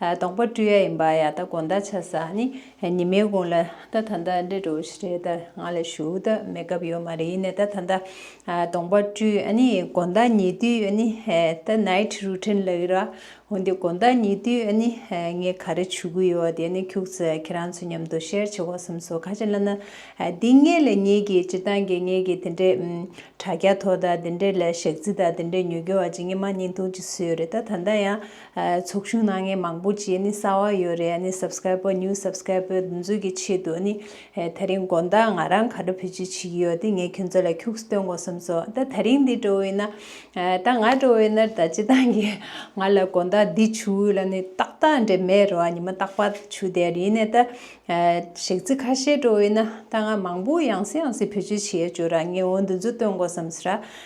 དང་པོ་སྤྲུལ་ཡ་ཡིན་པ་ཡ་ད་གོ་འདའ་ཆ་ས་ནི་ཉི་མའི་གུང་ལ་ད་ད་འདའ་འདྲེ་འགྲོ་བཞི་རེ་ད་ང་ལ་ཞུ་ད་མེད་སྐབས་ཡོད་མ་རེད་ཡིན་ནའི་ད་ད་འདའ་དང་པོ་སྤྲུལ་ཨ་ནི་གོ་འདའ་ཉེ་དུས་ཨ་ནི་ད night routine ལ་ཡོད་ར་འོན་ཏེ་གོ་འདའ་ཉེ་དུས་ཨ་ནི་ངས་ག་རེ་བྱུ་གུ་ཡོད་དེ་ནི་ཁྱུག་ཚེ་ཁྱེད་རང་ཚོ་མཉམ་དུ share བྱེད་གོ་སེམས་སོ་ག་ཅི་ལ་ན་འདི་ངས་ལ་ཉེས་ཀྱི་ཅི་ད་འགེ་ངས་ཀྱི་དེ་འདྲེ་དྲ་རྒྱ་ཐོ་ད་དེ་འདྲེ་ལ་ཞག་རྩི་ད་དེ་འདྲེ་ཉོ་རྒྱུ་བ་ཅི་ངས་མ་ཉིན་ཐུང་ཅི་སུ་ཡོད་རེད་ད་ད་འདའ་ཡ། ཚོགས་ཆུང་ནང་ངས་མང་པོ་བྱས་ནས་བསགས་བ་ཡོད་རེད་ནས Subscriber New Subscriber འདི་འཛུགས་ཀྱི་ཆེད་དུ་ནི་ད་རིང་དགོན་བདག་ང་རང་ག་འདྲ་ཕུལ་ཆེད་བྱེད་ཀྱི་ཡོད་དེ་ངས་ཁྱོད་ཚོ་ལ་ཁྱུགས་སྟོན་དགོས་བསམ་སོང་ད་ད་རིང་འདི་འགྲོ་འི་ན་ད་ང་འགྲོ་འི་ནར་ད་ཅི་ཐང་གི་ང་ལ་དགོན་བདག་འདི་བྱུ་འི་ལ་ནི་ཏག་ཏག་འདྲེ་མེད་རོ་ནི་མ་ཏག་པ་བྱུ་དེ་རི་ནས་ད་ཞག་ཚི་ཁ་ཤས་འགྲོ་འི་ན་ད་ང་མང་པོ་ཡང་སི་ཡང་སི་ཕུལ་ཆེད་བྱས་བྱུ་ར་ངས་འོ་འདི་འཛུགས་སྟོན་དགོས་བསམ་སི་ར་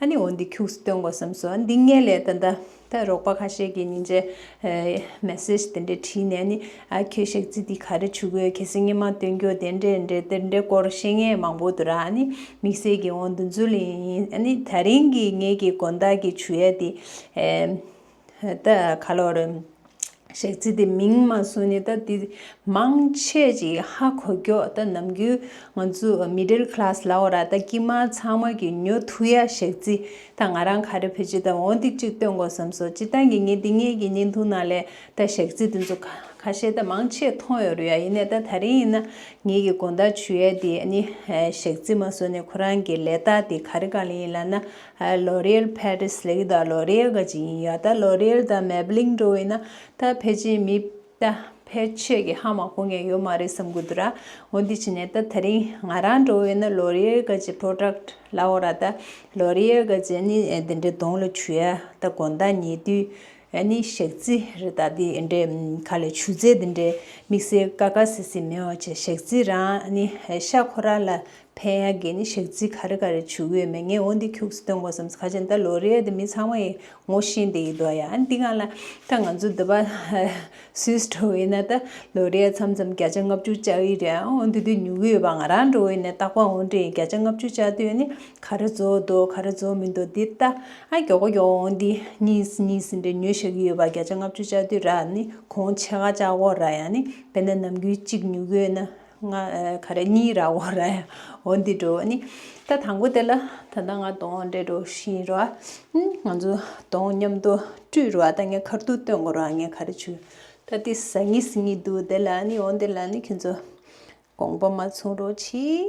ཨ་ནི་འོ་འདི་ཁྱུགས་སུ་བཏོན་དགོས་བསམ་སོང་འདི་ངས་ལས་ད་ད་རོགས་པ་ཁ་ཤས་ཀྱི་ཉིན་རྗེ message དེ་འདྲས་བྲིས་ནས་ཨ་ནི་ཨ་ཁྱོད་ཤག་ཚིག་འདི་ག་རེ་བྱུ་གོས་གལ་སྲིད་ངས་མ་བཏོན་རྒྱུ་དེ་འདྲས་འདྲས་དེ་འདྲས་སྐོར་བཤད་ངས་མང་པོ་འདུག་ར་ཨ་ནི་དམིགས་བསལ་གྱི་འོ་འདི་འཛུལ་ཡིན་ཨ་ནི་ད་རིང་གི་ངེད་ཀྱི་དགོན་བདག་གི་བྱུ་ཡ་དེ། ད་ག་ལོག་རེད། ཞེས་ཙི་ཏི་མིང་མ་གསུངས་ནས་ད་དེ་མང་ཆེས་ཀྱིས་ཧ་གོ་སྐྱོག་ད་ནམ་རྒྱུན་ང་ཚོ Middle Class ལའོ་ར་ད་དཀྱིས་མ་ཚང་མ་གི་ཉོ་ཐུ་ཡ་ཞེས་ཙི་ད་ང་རང་ག་རེ་བེད་སྤྱོད་དང་འོ་འདི་ཅིག་སྟོན་དགོ་བསམ་སོ་ཅི་ད་ངེད་ངེད་འདི་ངེད་ཀྱི་ཉིན་ཐུང་ནང་ལས་ད་ཞེས་ཙི་དེ་ཚོ་ག་ཤེས་ད་མང་ཆེས་མཐོང་ཡོ་རུ་ཡ་ཡིན་ནས་ད་ད་རིང་ཡིན་ན་ངེད་ཀྱི་དགོ་ད་ཆུ་ཡ་དེ་ནི་ཞེས་ཙི་མ་གསུངས་ནས་ཁོ་རང་གི་ལས་ད་དེ་ག་རེ་ག་ལེ་ཡིན་ལ་ན་ལོ་རེར་ཕ་རིས་ལེགས་ད་ལོ་རེ་དགའ་གཅིག་ཡིན་ཡ་ད་ལོ་རེར་ད་མེ་བི་ལིང་འགྲོ་འི་ན་ད་ཕལ་ཆེར་མི་ད་ཕལ་ཆེར་གི་ཧ་མ་གོ་ངེས་ཡོད་མ་རེད་བསམ་གི་འདུག་ར་འོ་འདི་ཕྱི་ནས་ད་ད་རིང་ང་རང་འགྲོ་འི་ན་ལོ་རེར་དགའ་གཅིག་བྲོ་བྲག་ལ་འོ་ར་ད་ལོ་རེར་དགའ་གཅིག་ནི་འདི་འདྲའི་གདོང་ལ་ཆུ་ཡ་ད་དགོན་ཟླ་ཉེ་དུས་ནི་ཞག་རྩི་རེ་ད་འདི་འདྲའི་ཁ་ལས་ཆུ་རྩེད་འདི་འདྲའི་དམིགས་བསལ་དཀའ་དཀའ་སེ་སེ་མི་འོ་ཆེ་ཞག་རྩི་རང་ནི་ཤ་ཁོ་ར་ལ་ཕན་ཡ་གི་ནི་ཞག་ཚིག་ག་རེ་ག་རེ་བྱུག་ཡོད་མེད་ངས་འོ་འདི་ཁྱུགས་སུ་སྟོན་དགོས་བསམ་ག་ཅན་ད་ལོ་རེད་དེ་མི་ཚང་མ་ཡི་ངོ་བཞིན་དེ་ཡི་དོ་ཡ་འདི་གང་ལ་ད་ང་ཚོ་འདི་པ་སུའི་སྤྲོ་བས་ན་ད་ལོ་རེད་ཚམ་ཚམ་བརྒྱ་ཆ་ལྔ་བཅུ་བཅའ་ཡི་རེད་འོ་འདི་དུས་མྱུ་གུ་ཡོད་པ་ང་རང་འགྲོ་བས་ན་རྟག་པ་འོ་འདྲེ་ཡི་བརྒྱ་ཆ་ལྔ་བཅུ་བཅའ་དུས་ནི་ག་རེ་རྫོགས་འདུག་ག་རེ་རྫོགས་མི་འདུག་འདི་ད་ཨ་མགྱོགས་པོ་མགྱོགས་འོ་འདི་གཉིས་གཉིས་ཟིན་འདྲེ་ཉོས་ཞག་གི་ཡོད་པ་བརྒྱ་ཆ་ལྔ་བཅུ་བཅའ་དུས་ར་ནི་གོང་ཆེ་ག་བཅའ་གོ་ར་ཡ་ནི་བས་ན་ནམ་རྒྱུན་གཅིག་མྱུ་གུ་ཡོད་ན། ང་ག་རེ་གཉིས་ར་འོ་ར་འོ་འདི་འགྲོ་བ་ནི་ད་དང་པོ་དེ་ལ་ད་ལྟ་ང་དང་འདྲེ་འགྲོ་བཞིན་ར་ང་ཚོ་དང་མཉམ་དུ་སྤྲུལ་ར་ད་ངས་གར་ཐུག་སྟོན་དགོ་ར་ངས་ག་རེ་བྱུ་ད་འདི་ཟ་ངི་ཟི་ངི་འདུག་དེ་ལ་ནི་འོ་འདི་ལ་ནི་ཁྱོད་ཚོ་དགོངས་པ་མ་ཚུང་རོགས་གྱིས།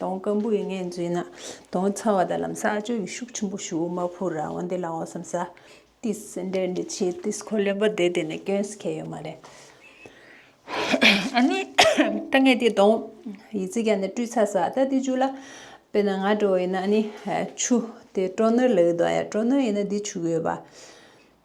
དོང་སྐམ་པོ་ཡི་ངན་བྱས་ན། དོང་ཚ་བ་དང་ལམ་ས་སྤྱོད་ཡི་ཤུགས་ཆེན་པོ་ཞུ་མ་ཕུར་ར་བ་འདི་ལ་འོ་སམ་ས། ཏིས་སེ་འདྲེ་འདྲེ་ཆེ་ཏིས་ཁོ་ལེན་པ་དེ་དེ་ནས་སྐྱོན་སི་ཁེ་ཡོད་མ་རེད། ཨ་ནི། ད་ངས་དེ་དོང་ཡི་ཙི་ག་ནས་བཀྲུས་ཚ་ས་ད་དེ་ཅུ་ལ། དཔེ་ན་ང་དྲོ་ཡི་ན་ཨ་ནི། ཆུ་དེ་དྲོ་ནུར་ལ་ཡོད་དོ་ཡ་དྲོ་ནུར་ཡི་ན་དེ་ཆུ་གོས་པ།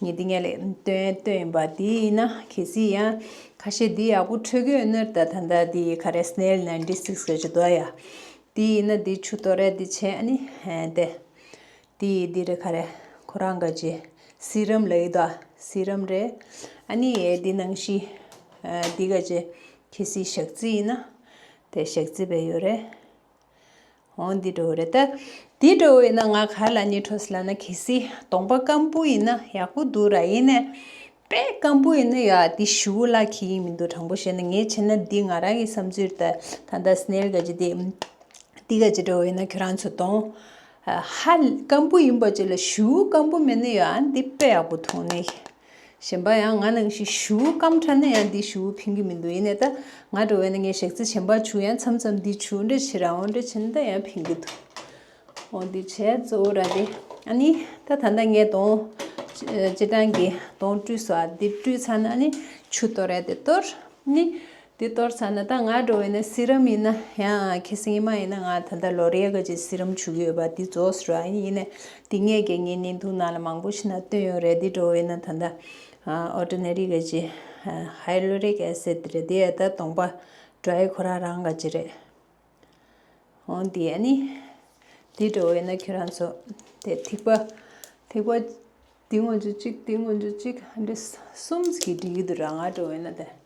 ངས་འདི་ངའི་ལས་དོན་བཏོན་ཡིན་པ་དེ་ཡིན་ན་གལ་སྲིད་ཡང་ཁ་ཤས་འདི་ཡག་པོ་འཕྲོད་གི་ཡོད་ནོར་ད་ད་ད་འདི་ག་རེ་སྣེལ Ninety Six ག་ཅི་དོ་ཡ་དེ་ཡིན་ན་འདི་ཆུ་གཏོར་རེ་འདི་བྱས་ཨ་ནི་ཧན་ཏེ་དེ་ཡི་འདི་རེ་ག་རེ་ཁོ་རང་ག་ཅི་སི་རམ་ལ་ཡོད་དོ་སི་རམ་རེད་ཨ་ནི་ཡའི་འདི་ནང་བཞིན་འདི་ག་ཅི་གལ་སྲིད་ཞག་རྩི་ཡིན་ན་དེ་ཞག་རྩི་བས་ཡོད་རེད། ཨོ་འདི་འགྲོ་བ་རེད་ད། འདི་འགྲོ་བ་ཡིན་ན་ང་གར་ལ་ཉེ་འཁྲོ་སི་ལ་ན་གི་སི་གདོང་པ་སྐམ་པོ་ཡིན་ན་ཡག་པོ་འདུག་ར་ཡིན་ནས། དཔེ་སྐམ་པོ་ཡིན་ན་ཡག་འདི་ཞུ་བོ་ལགས་གི་ཡིན་མི་འདུག་དྲང་པོ་བཤད་ན་ངས་བྱས་ན་འདི་ང་རང་གི་བསམ་ཚུལ་རེད་ད་ད་ད་སྣེར་ག་ཅི་འདི། འདི་ག་ཅི་འགྲོ་བ་ཡིན་ན་ཁྱོད་རང་ཚོ་གདོང། ཧ། སྐམ་པོ་ཡིན་པ་བཅས་ལ་ཞུ་བོ་སྐམ་པོ་མེད་ན་ཡག་འདི་དཔེ་ཡག་པོ་འཐུང་ནས། གཞན་པ་ཡང་ང་ནང་བཞིན་བཞུགས་སྐམ་ཕྲ་ན་ཡང་འདི་བཞུགས་ཕན་གྱི་མི་འདུག་ཡིན་ནས་ད་ང་འགྲོ་བས་ན་ངའི་གཞག་ཚེ་ཆེན་པར་བྱུགས་ཡང་མཚམས་མཚམས་འདི་བྱུགས་འདྲ་བྱེད་རང་འོང་འདྲ་བྱེད་ན་ད་ཡང་ཕན་གྱི་འདུག་འོ་འདི་བྱས་གཙོ་བོ་ར་སྟེ་ཨ་ནི་ད་ད་ལྟ་ངས་དོང་སྤྱི་དྲངས་ཀྱིས་དོང་བཀྲུས་སོ་ཨ་འདི་བཀྲུས་ཚར་ན་ཨ་ནི་ཆུ་གཏོར་ར་སྟེ་གཏོར་ནི་དེ་ལྟར་ཚར་ན་ད་ང་འགྲོ་བའི་ནི་སི་རམ་ཡིན་ན་ཡང་ཁེ་སིང་མ་ཡིན་ན་ང་ད་ལྟ་ལོ་རེ་ག་ཅིག་སི་རམ་བྱུགས་ཡོད་པ་དེ་རྫོགས་ར་ཡིན་ནས་དེ་ངས་དགེ་བསྙེན་ནི་འདུག་ནང་ལ་མང་པོ་ཞིག་ན་སྟོན་ཡོད་རེད་དེ་འགྲོ་བའི་ནི་ད་ད Ordinary ག་ཅིག Hyaluric Acid རེད་དེ་ད་དོང་པ Dry ཁོ་རང་རང་ག་ཅིག་རེད་འོང་དེ་ནི་དེ་འགྲོ་བའི་ནི་ཁྱོད་རང་ཚོ་དེ་ཐིག་པ་ཐིག་པ་དེ་ངོ་འཇུག་ཅིག་དེ་ངོ་འཇུག་ཅིག་འདི་གསུམ་གྱི་འགྲིག་གི་འདུག་ར་ང་འགྲོ་བའི་ནི་དེ།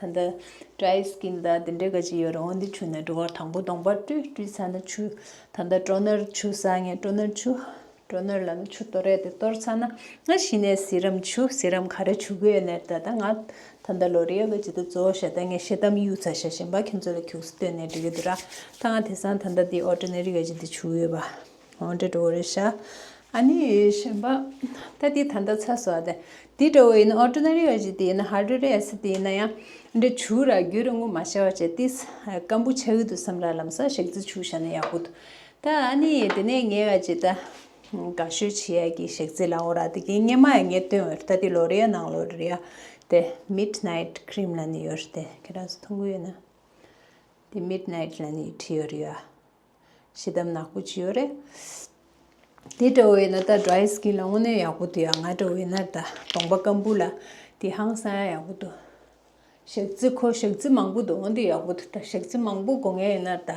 ད་ལྟ་བཀྲ་ཡི་སྐྱིན་ཟླ་འདི་འདྲའི་ག་ཅི་ཡོད་རང་འདི་ཆུ་ནས་འགྲོ་བར་དང་པོ་དང་པོར་སྤྲུལ་སྤྲུལ་ཚར་ན་ཆུ་ད་ལྟ་སྤྲོ་ནོར་ཆུ་ཟ་ངེས་སྤྲོ་ནོར་ཆུ་སྤྲོ་ནོར་ལ་ནི་ཆུ་གཏོར་རེད་དེ་གཏོར་ཚར་ན་ང་ཤི་ནས་ཟིལ་རམ་ཆུ་ཟིལ་རམ་ག་རེ་ཆུ་གོས་ནས་ད་ལྟ་ང་ད་ལྟ་ལོ་རེའི་ག་ཅི་ད་གཙོ་བོ་ཞེ་ད་ངས་ཤེས་གཏམ་གཡུགས་ཚར་ཤ་ཞེན་པ་ཁྱོད་ཚོ་ལ་གྱུགས་སེ་བསྟོད་ནས་འགྲིག་གི་འདུག་ར་ད་ང་དེ་སང་ད་ལྟ་འདི་འོ་སྤྲོ་ནོར་རི་ག་ཅི་འདི་ཆུ་ཡོད་པ། ཨོ་འདྲ་འགྲོ་བ་རེད་ཤག་ཨ་ནི་གཞན་པ་ད་དེ་ད་ལྟ་ཚ་སོ་ཨ་དེ་དེ་འདྲ་བོ་ཡིན་ན་ཨོ་ཏྲོ་ན་རི་ཡ་ཞིག་དེ་ཡིན་ན་ཧར་ཏྲོ་རི་ཡ་སི་དེ་ཡིན་ན་ཡང་འདྲ་བྱུ་ར་རྒྱུ་ར་ངོ་མ་ཤ་བ་ཅེ་ཏིས་ཀམ་པུ་ཆ་ཡུལ་དུ་སམ་ར་ལམ་ས་ཞག་རྩི་བྱུ་ཤ་ན་ཡག་པོ་འདུག་ད་ཨ་ནི་དེ་ནས་ངས་ཨ་ཅེ་ད་ག་ཤོད་ཆི་ཡ་གི་ཞག་རྩི་ལའོ་ར་དེ་གི་སྙེ་མ་ཡ་ངས་སྟོན་འོད་ད་དེ་ལོ་རི་ཡ་ནང་ལོ་རི་ཡ་དེ་མིད་ནཱིད་ཁྲིམ་ལ་ནི་ཡོད་རེད་དེ་ཁྱེད་རང་ཚོ་མཐོང་གི་ཡོད་ན་དེ་མིད་ནཱིད་ལ་ནི་ཁྲི་ཡོ་རི་ཡ། ཤི་དམ་ནག་པོ་ཅི་ཡོད་རེད། དེ་འདྲ་བའི་ན་ད dry skin ལ་དངོས་གནས་ཡག་པོ་འདུག་ཡ་ང་འདྲ་བའི་ན་ད་གདོང་པ་སྐམ་པོ་ལ་དེ་ཧང་སང་ཡ་ཡག་པོ་འདུག་ཞག་རྩི་ཁོ་ཞག་རྩི་མང་པོ་འདུག་དངོས་འདུག་ཡག་པོ་འདུག་ད་ཞག་རྩི་མང་པོ་དགོ་ངེས་ཡིན་ན་ད།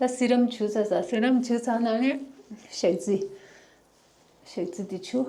ད་སི་རམ་བྱུག་ཚ་ས་སི་རམ་བྱུག་ཚ་ན་ནི་ཞག་རྩི་ཞག་རྩི་དེ་བྱུག།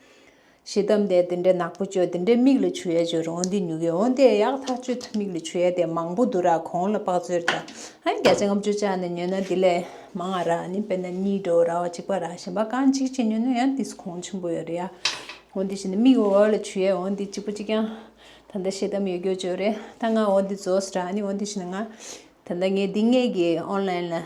ཞེས་གཏམ་དེ་འདི་འདྲའི་ནག་པོ་བཅོས་འདི་འདྲའི་མིག་ལ་ཆུ་ཡལ་བཅོས་རོང་འདི་ཉུག་ཡོད་འོང་དེ་ཡག་ཐག་གཅོད་ཐུབ་མིག་ལ་ཆུ་ཡལ་དེ་མང་པོ་འདུག་ར་གོང་ལ་དཔག་ཚོད་རེད་ཨ་བརྒྱ་ཆ་ལྔ་བཅུ་བཅག་ནས་ཉོས་ན་དེ་ལས་མང་ཨ་ར་ཨ་ནི་དཔེར་ན་གཉིས་འགྲོ་ར་བ་གཅིག་པ་ར་གཞན་པ་རྐང་གཅིག་བཅས་ཉོས་ན་ཡང་དེ་སུ་གོང་ཆེན་པོ་ཡོད་རེད་ཡ་འོང་དེ་བཞིན་མིག་འོག་ལ་ཆུ་ཡལ་འོང་དེ་གཅིག་པ་གཅིག་ཀྱང་ད་ལྟ་ཤེས་གཏམ་ཡོད་རྒྱུ་བཅོས་རེད་ད་ང་འོང་དེ་རྫོགས་ར་ཨ་ནི་འོང་དེ་བཞིན་ང་ད་ལྟ་ངས་འདི་སྔས་ཀྱི online ལ།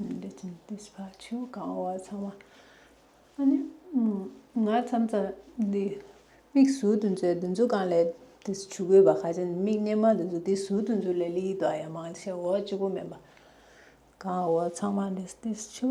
ལས་ཀྱི་འདུས་པ་ཆོས་གང་བ་ཚང་བ་ཨ་ནི་ང་ཙམ་ཙམ་འདི་མིག་ཟུར་དུ་འཛུལ་དུ་འཛུལ་གང་ལས་དེ་ཆུ་རྒོད་པ་ཁ་ཅན་འདི་མིག་སྙན་མ་དུ་འཛུལ་དེ་ཟུར་དུ་འཛུལ་ལས་ལིའི་དྭགས་ཡང་མང་ཆེ་འོག་སྤྱི་བོ་མེད་པ་གང་བ་ཚང་མ་འདི་ཆུ།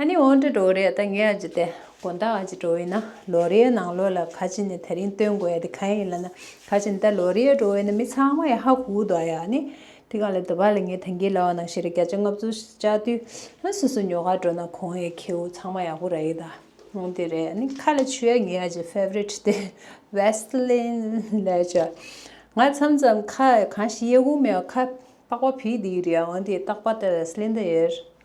ཨ་ནི་འོ་འདྲ་འགྲོ་རེད་ད་ངས་ཨ་ཅི་སྟེ་དགོན་བདག་ཨ་ཅི་འགྲོ་འི་ན་ལོ་རེའི་ནང་ལོ་ལ་ཁ་ཅི་ནས་ད་རིང་སྟོན་དགོས་ཡ་དེ་ག་ཡིན་ལ་ན་ཁ་ཅི་ནས་ད་ལོ་རེའི་འགྲོ་འི་ན་མི་ཚང་མ་ཡ་ཧ་ཧུ་དོ་ཡ་ཨ་ནི་དེ་ག་ལ་དེ་བ་ལ་ངས་ཐང་གི་ལ་བ་ནང་ཤི་ར་བརྒྱ་ཆ་ལྔ་བཅུ་བཅའ་དུས་ཨ་སོ་སོ་ཉོ་ག་འགྲོ་ན་གོང་ཡའི་ཁྱེའུ་ཚང་མ་ཡ་ཧུ་ར་འི་ད་ཨོ་དེ་རེད་ཨ་ནི་ཁ་ལ་ཆུ་ཡ་ངའི་ཨ་ཅི Favorite དེ Vaseline ལ་ལྕ་ང་ཚམ་ཚམ་ཁ་གང་ཞིག་ཡ་ཧུ་མེད་ཁ་པགས་པ་བི་དེ་འི་རེད་ཨོ་དེ་ཏག་པ་ད Vaseline ད་ཡེར།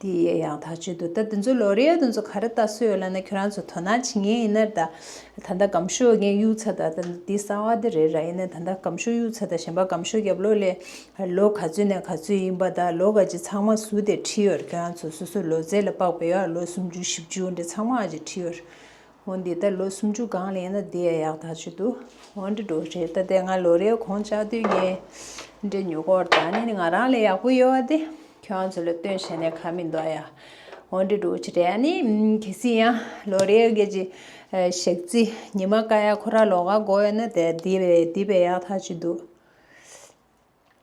དེ་ཡི་ཡང་དག་ཆོས་དུ་ལྟ་དེ་ཚོའི་ལོ་རེ་ཡར་དེ་ཚོ་ག་རེ་ལྟ་སྲོལ་ཡོད་ལ་ནི་ཁྱོད་རང་ཚོ་དོ་སྣང་བྱེད་ངེས་ཡིན་ནར་ད། ད་ལྟ་སྒམ་ཤོག་རྒན་གཡུ་ཚ་དང་ད་འདི་གསང་བ་འདི་རེད་ར་ཡིན་ནའི་ད་ལྟ་སྒམ་ཤོག་གཡུ་ཚ་དང་གཞན་པ་སྒམ་ཤོག་རྒྱབ་ལོག་ལས། ལོ་ག་ཚོད་ནས་ག་ཚོད་ཡིན་པ་ད་ལོ་ག་ཅིག་ཚང་མ་ཟུར་དེར་ཁྲིད་ཡོད་ར་ཁྱོད་རང་ཚོ་སོ་སོའི་ལོ་ཚད་ལ་དཔག་པའི་ཡར་ལོ་སུམ་ཅུ་བཞི་བཅུ་འདི་ཚང་མ་ག་ཅིག་ཁྲིད་ཡོད་ར། ཧོན་འདི་ལྟར་ལོ་སུམ་ཅུ་གང་ལེན་ན་འདི་ཡ་ཡག་ད་ཆོད་དུ་ཧོན་འདྲེ་འགྲོ་རེད་ད་དེ་ང་ལོ་རེའི་གོང་ལྕགས་དུས་ངའི་འདྲེ་ཉོ་སྐོར་ད་ནི་ང་རང་ལས་ཡག་པོ་ཡོད་དེ་ཁྱོད་ཚོ་ལ་སྟོན་བྱས་ནས་ཁ་མི་འདོག་ཡ་ཧོན་འདྲེ་འགྲོ་ཅི་རེད་ནི་གལ་སྲིད་ཡང་ལོ་རེའི་སྐད་ཅི་ཞག་རྩི་ཉི་མ་ཀ་ཡ་ཁོ་ར་ལོ་ག་འགོ་ཡོད་ན་དེ་འདི་འདི་བས་ཡག་ད་ཆོད་དུ།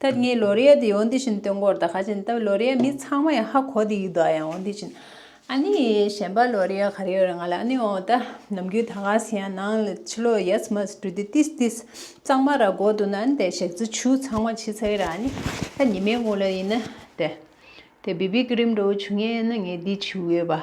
ཐེངས་ངེད་ལོ་རེའི་དེ་ཡོང་དེ་བཞིན་སྟོན་སྐོར་དང་ཁ་ཆེམས་བཏབ་ལོ་རེའི་མི་ཚང་མ་ཡང་ཧ་གོ་དེ་ཡིད་དུ་ཡང་འོང་དེ་བཞིན། ཨ་ནི་གཞན་པ་ལོ་རེའི་ག་རེ་ཡོད་རེད་ང་ལ་ཨ་ནི་འོང་ད་ནམ་རྒྱུན་ད་ག་ཟེ་ཡང་ནང་ལ་ཕྱི་ལོག་ཡས་མས་སུ་འགྲོ་དུས་ཏིས་ཏིས་གཙང་མ་ར་གོ་འདུག་ན་ཨ་ནི་དེ་ཞག་རྩི་ཆུ་ཚང་མ་ཕྱི་ཚ་གི་ར་ཨ་ནི་ད་ཉི་མའི་དགུང་ལ་ཡིན་ན་དེ་དེ་བི་བི་ཀི་རིམ་འགྲོ་བོ་བྱུང་ངེས་ཨ་ནི་ངས་དེ་བྱུས་ཡོད་པ།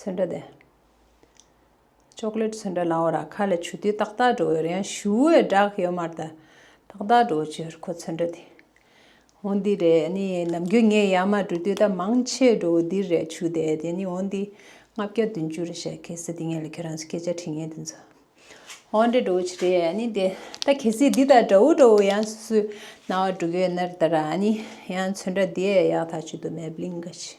ཚོན་འདྲ་དེ། Chocolate ཚོན་འདྲ་ནའོ་ར་ཁ་ལས་ཆུ་དུས་ཏག་ཏག་འགྲོ་འོད་ཡང་ཞུ་འོད་བསྒྲགས་ཡོད་མར་ད་ཏག་ཏག་འགྲོ་ཕྱིར་ཁོ་ཚོན་འདྲ་དེ། འོན་འདི་རེད་ནི་ནམ་རྒྱུན་ངས་ཡར་མར་འགྲོ་དུས་ད་མང་ཆེས་འགྲོ་འོད་འདི་རེད་ཆུ་དེ་དེ་ནི་འོན་འདི་ལྔ་བརྒྱ་བདུན་ཅུ་རེད་བཤད་གལ་སྲིད་འདི་ངས་ལས་ཁྱོད་རང་སྐད་ཆ་དྲིས་ངན་དེ་ཚོ་འོན་འདྲ་འགྲོ་ཕྱིར་རེད་ནི་དེ་ད་གལ་སྲིད་འདི་ད་འདྲ་འོ་འགྲོ་འོད་ཡང་སུ་སུའི་ན་བ་འགྲོ་གི་འོད་ནར་ད་ར་ནི་ཡང་ཚོན་འདྲ་དེ་ཡག་ཐག་ཆོད་དུ་མེད་བརླིང་ག་ཆི།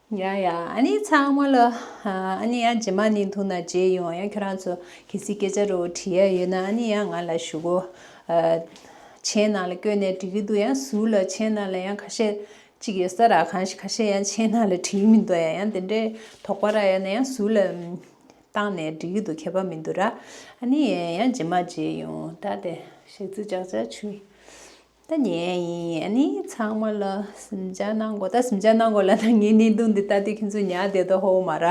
ཡ་ཡ་ཨ་ནི་ཚང་མ་ལ་ཨ་ནི་ཡ་རྗེས་མ་ནི་མཐུ་ན་རྗེས་ཡོང་ཡ་ཁྱོད་རང་ཚོ་གལ་སྲིད་སྐད་ཆ་རོ་དྲི་ཡ་ཡོད་ན་ཨ་ནི་ཡ་ང་ལ་ཞུ་གོ་མཆན་ནང་ལ་བཀོད་ནས་དྲི་གི་འདུག་ཡ་ཟུར་ལ་མཆན་ནང་ལ་ཡ་ཁ་ཤས་གཅིག་ཡོད་ས་ར་གང་ཞིག་ཁ་ཤས་ཡ་མཆན་ནང་ལ་དྲི་མི་འདུག་ཡ་ཡང་དེ་འདྲའི་དོགས་པ་ར་ཡ་ན་ཡ་ཟུར་ལ་བཏང་ནས་དྲི་གི་འདུག་ཁྱད་པར་མི་འདུག་ར་ཨ་ནི་ཡ་ཡ་རྗེས་མ་རྗེས་ཡོང་ད་དེ་ཞག་རྩི་བཅག་བཅག་བྱོས། ད་ངས་ཡིན་ནི་ཚང་མ་ལ་ཟིང་ཆ་གནང་གོ་ད་ཟིང་ཆ་གནང་གོ་ལ་ད་ངའི་གནད་དུ་འདི་ལྟ་སྟེ་ཁྱོད་ཚོས་ཉག་བསྡད་དོ་ཧོ་མ་ར།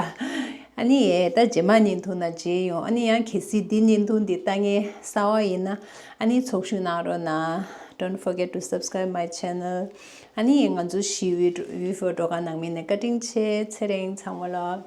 ཨ་ནི་ཨེ་ད་རྗེས་མ་ཉིན་ཐུག་ན་རྗེས་ཡོང་ཨ་ནི་ཡང་གལ་སྲིད་འདི་ཉིན་ཐུག་འདི་ལྟ་ངའི་ས་བ་ཡིན་ན་ཨ་ནི་ཚོགས་ཞུགས་གནང་རོགས་གནང Don't forget to subscribe my channel ཨ་ནི་ཡིན་ང་ཚོ་ཞི་བའི་འོས་བོད་བྲོ་ག་ནང་མི་ནས་བཀའ་དྲིན་ཆེ་ཚེ་རིང་ཚང་མ་ལ།